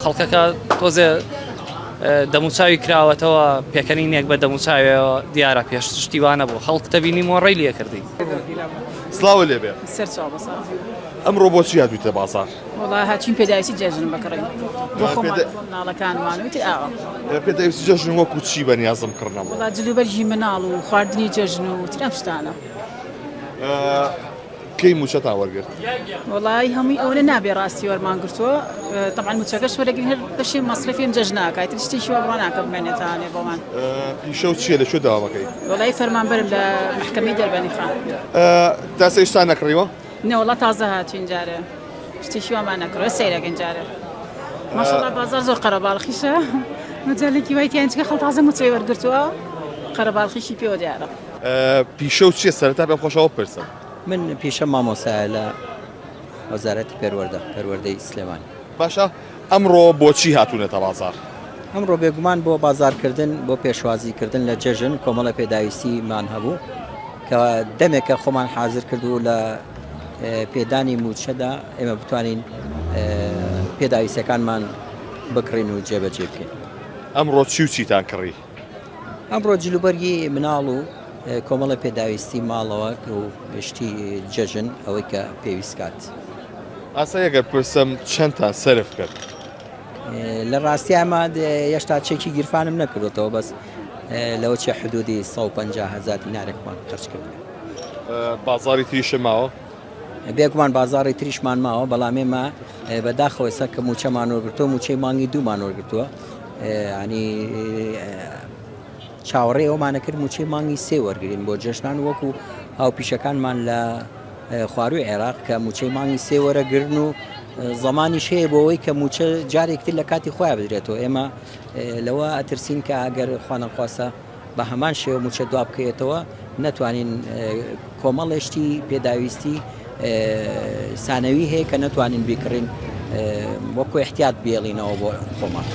خەڵکەکە تۆزێ دەموچاوی کراوەتەوە پێکەنینێک بە دەموچاوێەوە دیارە پێش شتیوانە بۆ خەڵک تەبینی مۆڕی لە کردی سلااو لێبێ ئەمڕۆ بۆ چی هاتوویتە بازار هاچین پێداویستی جێژن بکڕین ناڵەکانمانوتی ئاوە پێداویستی جەژن وەکو چی بە نیازم کڕنەوە جلوبەرگی مناڵ و خواردنی جەژن و ترەم شتانە کەی موچەتان وەرگرت؟ وەڵای هەمووی ئەوەنە نابێ ڕاستی وەرمان گرتووە تەبان موچەکەش وەرەگرین هەر بەشێ مەسرەفیم جەژ ناکات شتێکی وابڕا ناکە بمێنێتانێ بۆمان پیشە و چیە لە شو داوامەکەی وەڵای فەرمانبەرم لە محکەمەی دەربەنی خان تا سێشتا نەکڕیوە نەوەڵا تازە هاتوین جارێ شتێکی وامان نەکڕە سەیرەکەن جارێ ماشەڵا بازار زۆر قەرەباڵخیشە مەجالێکی وای تیانچکە خەڵ تازە موچەی وەرگرتووە قەرەباڵخیشی پێوە دیارە پیشە و چیە سەرتا پێم خۆشەوە پرسم من پیشەم مامۆستایە لە وەزارەتی پەروەردە پەروەردەی سلێمانی. باشە ئەمڕۆ بۆچی هاتوونەتە بازار؟ ئەمڕۆ بێگومان بۆ بازارکردن بۆ پێشوازیکردن لە جەژن کۆمەڵە پێداویستیمان هەبوو کە دەمێکە خۆمان حازر کردو لە پێدانی موچەدا ئێمە بتوانین پێداویستەکانمان بکڕین و جێبەجێ بکەین. ئەمڕۆ چی و چیتان کڕی؟ ئەمڕۆ جلوبەرگی مناڵ و کۆمەڵی پێداویستی ماڵەوە و شتی جەژن ئەوەی کە پێویست کات. ئاسا یەگەر پرسم چەندتا سەرف کرد؟ لە ڕاستی ئەمە یەشتا چێکی گیرفانم نەکردەوە بەس لەوە چێ حدودی 150 هزار دینارێکمان خرج کرد. بازاری تریشە ماوە؟ بێگومان بازاڕی تریشمان ماوە بەڵام ئێمە بەداخەوە ئێستا کە موچەمان وەرگرتووە موچەی مانگی دوومان وەرگتووە ینی چاوەڕێ ئەومانە کرد موچەی مانگی سێ وەرگین بۆ جێشنان وەکو هاوپیشەکانمان لە خواروی عێراق کە موچەی مانگی سێ وەرەگرن و زمانی شەیە بۆەوەی کە موچە جارێکتر لە کاتی خۆیان بدرێتەوە ئێمە لەوە ئەترسین کە ئەگەر خوانەخواسە بە هەمان شێوە مووچە دوابکەوێتەوە، نەتوانین کۆمەڵێ شتی پێداویستی سانەوی هەیە کە نەتوانین بیکڕین وەکو احتیاط بیێڵینەوە بۆ خۆمان.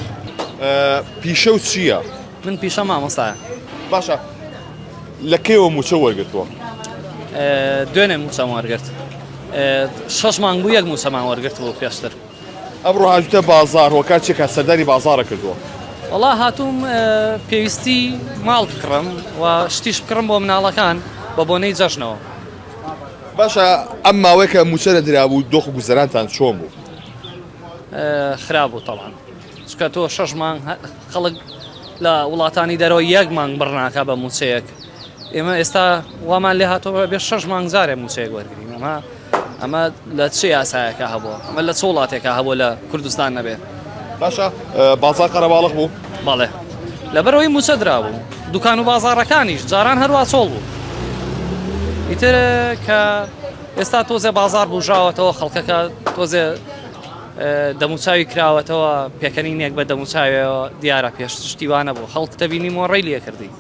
پیشە و چییە؟ من پیشە مامۆستایە. باشە لە کەیەوە مووچە وەرگتووە؟ دوێنێ مووچەم وەرگرت. شەش مانگ بوو یەک مووچەمان وەرگرت بوو پێشتر. ئەمڕۆ هاتووتە بازاڕ و کار چی ئەکات؟ سەردانی بازاڕت کردووە؟ وەڵا هاتووم پێویستی ماڵ بکڕم و شتیش بکڕم بۆ مناڵەکان بە بۆنەی جەژنەوە. باشە ئەم ماوەیە کە مووچە نەدرابوو دۆخ و گوزەرانتان چۆن بوو؟ خراپ بوو تەبعەن چونکە تۆ شەش مانگ خەڵک لە وڵاتانی دەرەوە یەک مانگ بڕ ناکا بە مووچەیەک ئێمە ئێستا وامان لێ هاتەوە بێ شەش مانگ جارێ مووچەیەک وەرگرین ئەمە ئەمە لە چ یاسایەکە هەبووە ئەمە لە چ وڵاتێکە هەبوو لە کوردستان نەبێت باشە بازار قەرەباڵق بوو بەڵێ لەبەرەوەی موچە درابوو دوکان و بازارەکانیش جاران هەروە چۆڵ بوو ئیتر کە ئێستا تۆزێ بازار بژاوەتەوە خەڵکەکە تۆزێ دەموچاوی کراوەتەوە پێکەنینێک بە دەموچاوێەوە دیارە پێشتیوانە بۆ خەڵک دەبینی مۆڕی لێکردی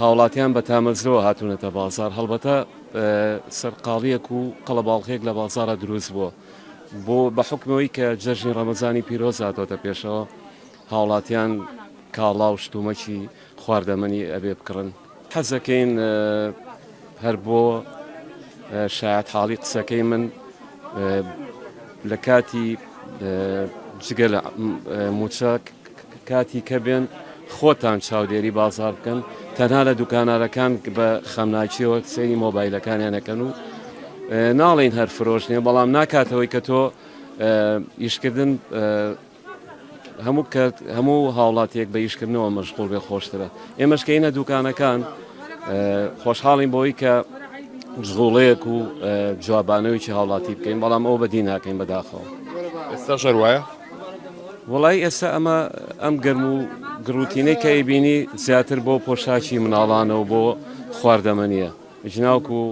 هاوڵاتیان بە تامەزرۆوە هاتوونەتە بازاڕ، هەڵبەتە سەرقاڵییەک و قەڵەباڵغییەک لە بازاڕا دروست بووە، بۆ بە حوکمی ئەوەی کە جەژنی ڕەمەزانی پیرۆز هاتۆتە پێشەوە، هاوڵاتیان کاڵا و شتومەکی خواردەمەنی ئەبێ بکڕن. حەز ئەکەین هەر بۆ شایەتحاڵی قسەکەی من لە کاتی جگە لە مووچە، کاتی کە بێن خۆتان چاودێری بازاڕ بکەن، تەنها لە دوکانارەکان بە خەمناکیەوە سەیری مۆبایلەکانیان ئەکەن و ناڵێین هەر فرۆش نیە بەڵام ناکاتەوەی کە تۆ ئیشکردن هەموو کە هەموو هاوڵاتیەک بە ئیشکردنەوە مەشغول بێ خۆشترە ئێمەشکەینە دوکانەکان خۆشحاڵین بۆی کە جغوڵەیەک و جوابانەوەی هاوڵاتی بکەین بەڵام ئەو بەدی ناکەین بەداخەوە ئێستا شەر وایە وەڵایی ئێستا ئەمە ئەم گەرم و گڕوتینەی کە ئەیبینی زیاتر بۆ پۆشاکی مناڵانە و بۆ خواردەمەنیە جناوک و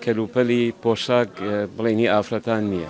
کەلوپەلی پۆشاک بڵێنی ئافرەتان نییە.